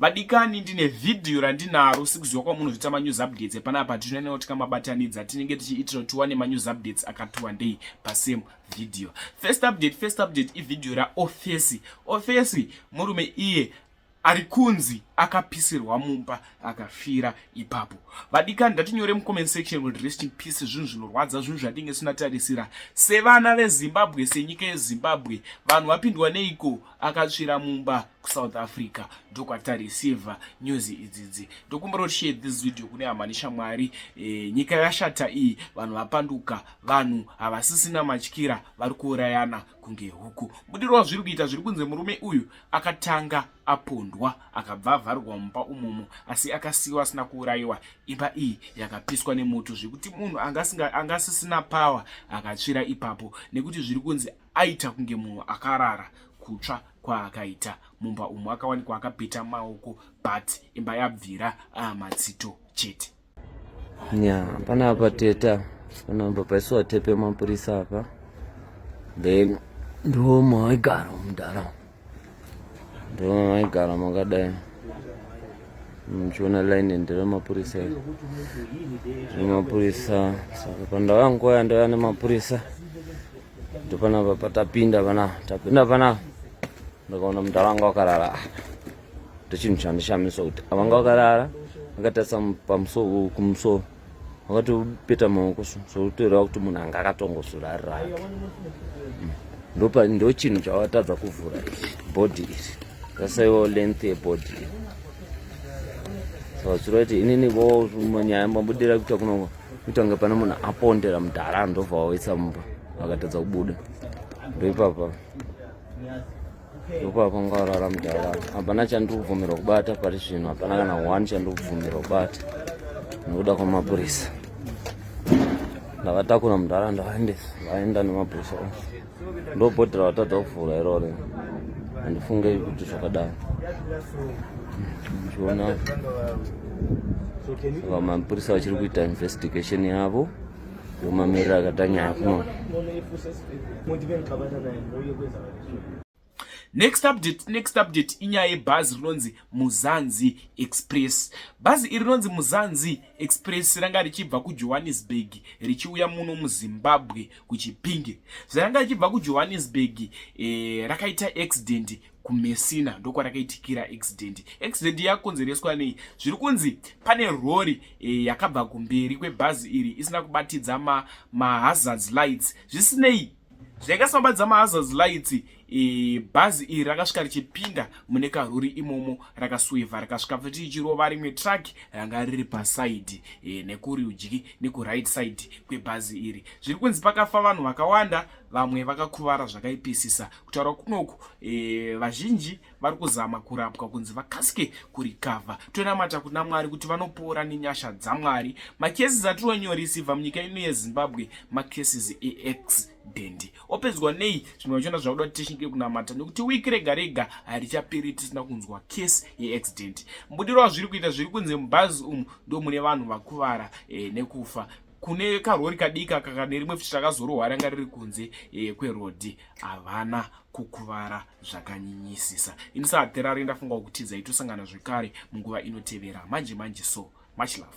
Vadikani ndine video randinaro sikuziwa kwamunozvita ma news updates pana apa tinene kuti kamabatanidza tinenge tichiitira kuti wane ma news updates akati wandei pa same video. First update first update i video ra office. Office murume iye ari kunzi akapisirwa mumba akafira ipapo vadikani ndatinyore mucomment section kuti rest in peace zvinhu zvinorwadza zvinhu zvatinge tinatarisira sevana vezimbabwe senyika yezimbabwe vanhu vapindwa neiko akatsvira mumba kusouth africa ndokwatareceiver news idzidzi ndokumbira kuti share this video kune hama neshamwari e, nyika yashata iyi vanhu vapanduka vanhu havasisina matyira vari kuurayana kunge huku budiro wazviri kuita zviri kunze murume uyu akatanga apondwa akabva avharwa mumba umomo asi akasiyiwa asina kuurayiwa imba iyi yakapiswa nemoto zvekuti munhu angasisina power akatsvira ipapo nekuti zviri kunzi aita kunge munhu akarara kutsva kwaakaita mumba umu akawanikwa akapeta maoko but imba yabvira ah, matsito chete nya panapa teta panapa paisiwa tepe mapurisa apa then ndomo aigara mudhara ndoma maigara makadai muchiona line nderemapurisa iri remapurisa saka pandauya nguva yandauya nemapurisa ndopanapa patapinda panapa tapinda panapa ndakaona munhu avanga wakarara apa ndochinhu chandishamisa kuti avanga wakarara akatarisa pamusoro kumusoro wakatopeta maoko so sokutoreva kuti munhu anga akatongozurarira hmm. ndopa ndo chinhu chawatadza kuvhura body iri zasaiwo length yebody iri savatsura kuti inini vo manyaya mabudira kuita kuno kuita kunge pane munhu apondera mudhara ndobva wawaisa mumba vakatadza kubuda ndoipapa ndipo apa ngaurara mudhara hapana chandiri kubvumirwa kubata pari zvino hapana kana one chandiri kubvumirwa kubata nekuda kwamapurisa ndakatakura mudhara ndavaendesa vaenda nemapurisa ose ndobhodhera vatadza kuvhura irore handifunge kuti zvakadaro chiona ava mapurisa vachiri kuita investigation yavo yomamirira akatanyaya kuno Next update, next update inyaya yebhazi rinonzi Muzanzi Express. Bhazi iri rinonzi Muzanzi Express ranga richibva kuJohannesburg richiuya muno muZimbabwe kuChipinge. Zvaranga richibva kuJohannesburg eh, rakaita accident kumesina ndokwarakaitikira accident accident yakonzereswa nei zviri kunzi pane rori e, yakabva kumberi kwebhazi iri isina kubatidza mahazards ma lights zvisinei zvainge samba dzamahazards lights e, bhazi iri rakasvika richipinda mune karuri imomo rakasuivha rakasvika futi ichirova rimwe truck ranga riri pasaidi e, nekurudyi nekuright side kwebhazi iri zviri kunzi pakafa vanhu vakawanda vamwe vakakuvara zvakaipisisa kutaura kunoku e, vazhinji vari kuzama kurapwa kunzi vakasike kurikavha tonamata kuna mwari kuti vanopora nenyasha dzamwari makesis atironyorisivha munyika ino yezimbabwe makesis eaccident opedzwa nei zvimwe vachiona zvakuda kuti tishinge kunamata nekuti wiki rega rega harichaperi tisina kunzwa kesi yeaccident mbudiro wazviri kuita zviri kunzi mubhazi umu ndo mune vanhu vakuvara e, nekufa kune karori kadika kakanerimwe futi rakazorohwara nga riri kunze e, kwerodhi havana kukuvara zvakanyinyisisa ini saaterari ndafunga kutiza itosangana zvekare munguva inotevera manje manje so much love